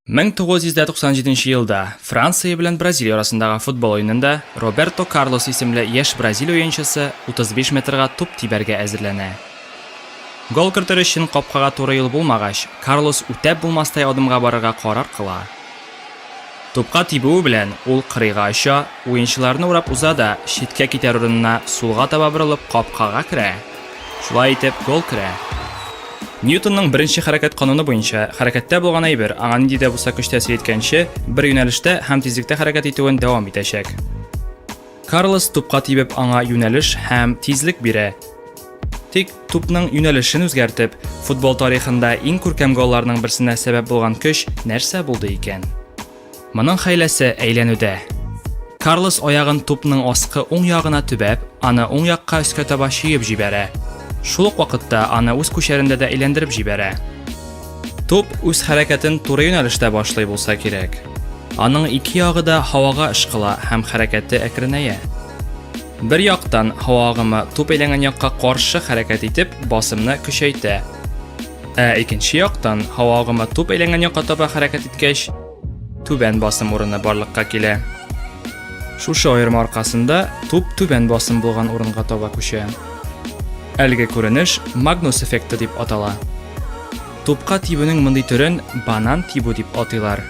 Мең тогыз йөз дә туксан җиденче елда Франция белән Бразилия арасындагы футбол уенында Роберто Карлос исемле яшь бразил уенчысы 35 метрга туп тибәргә әзерләнә. Гол кертер өчен капкага туры юл булмагач, Карлос үтәп булмастай адымга барырга карар кыла. Тупка тибүе белән ул кырыйга оча, уенчыларны урап уза да, читкә китәр урынына сулга таба борылып капкага керә. Шулай итеп, гол керә. Ньютонның беренче хәрәкәт кануны буенча, хәрәкәттә булган әйбер, аңа нинди дә булса көч тәэсир иткәнче, бер юнәлештә һәм тизлектә хәрәкәт итүен дәвам итәчәк. Карлос тупка тибеп аңа юнәлеш һәм тизлек бирә. Тик тупның юнәлешен үзгәртеп, футбол тарихында иң күркәм голларның берсенә сәбәп булган көч нәрсә булды икән? Моның хәйләсе әйләнүдә. Карлос аягын тупның аскы уң ягына төбәп, аны уң якка өскә таба чөеп җибәрә. Шул ук вакытта аны үз күчәрендә дә әйләндереп җибәрә. Туп үз хәрәкәтен туры юнәлештә башлый булса кирәк. Аның ике ягы да һавага ышкыла һәм хәрәкәте әкренәя. Бер яктан, һава агымы туп әйләнгән якка каршы хәрәкәт итеп, басымны көчәйтә. Ә икенче яктан, һава агымы туп әйләнгән якка таба хәрәкәт иткәч, Түбән басым урыны барлыкка килә. Шушы аерма аркасында туп түбән басым булган урынга таба күчә. Әлеге күренеш Магнус эффекты дип атала. Тупка тибүнең мондый төрен банан тибу дип атыйлар.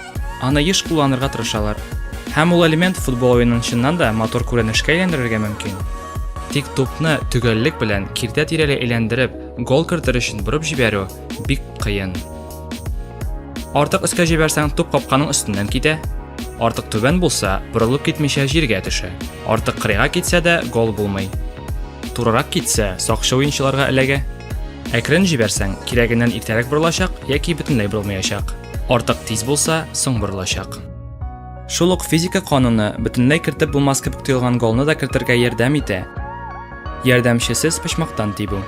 Аны еш кулланырга тырышалар. Һәм ул элемент футбол уенын чыннан да матур күренешкә әйләндерергә мөмкин. Тик тупны төгәллек белән киртә тирәли әйләндереп, гол кертер өчен борып җибәрү бик кыен. Артык өскә җибәрсәң, туп капканың өстеннән китә. Артык түбән булса, борылып китмичә җиргә төшә. Артык кырыйга китсә дә, гол булмый. Турырак китсә, сакчы уенчыларга эләгә. Әкрен җибәрсәң, кирәгеннән иртәрәк борылачак яки бөтенләй борылмаячак. Артык тиз булса, соң борылачак. Шул ук физика кануны бөтенләй кертеп булмас кебек тоелган голны да кертергә ярдәм итә. Ярдәмчесез почмактан тибү.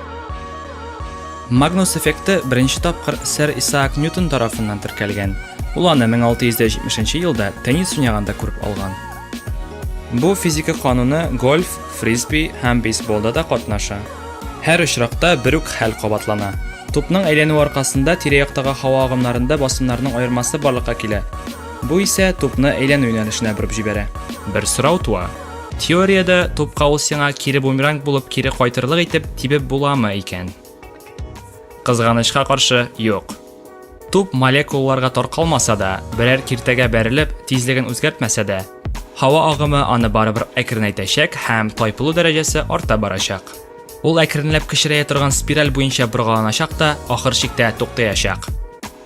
Магнус эффекты беренче тапкыр сэр Исаак Ньютон тарафыннан теркәлгән. Ул аны 1670 нче елда теннис уйнаганда күреп алган. Бу физика кануны гольф, фрисби һәм бейсболда да катнаша. Һәр очракта бер үк хәл кабатлана. Тупның әйләнүе аркасында тирә-яктагы һава агымнарында басымнарның аермасы барлыкка килә. Бу исә тупны әйләнү юнәлешенә борып җибәрә. Бер сорау туа, Теориядә тупка ул сиңа кире бумеранг булып кире кайтырлык итеп тибеп буламы икән? Кызганычка каршы, юк. Туп молекулаларга таркалмаса да, берәр киртәгә бәрелеп, тизлеген үзгәртмәсә дә, һава агымы аны барыбер әкренәйтәчәк һәм тайпылу дәрәҗәсе арта барачак. Ул әкренләп кечерәя торган спираль буенча боргаланачак та, ахыр чиктә туктаячак.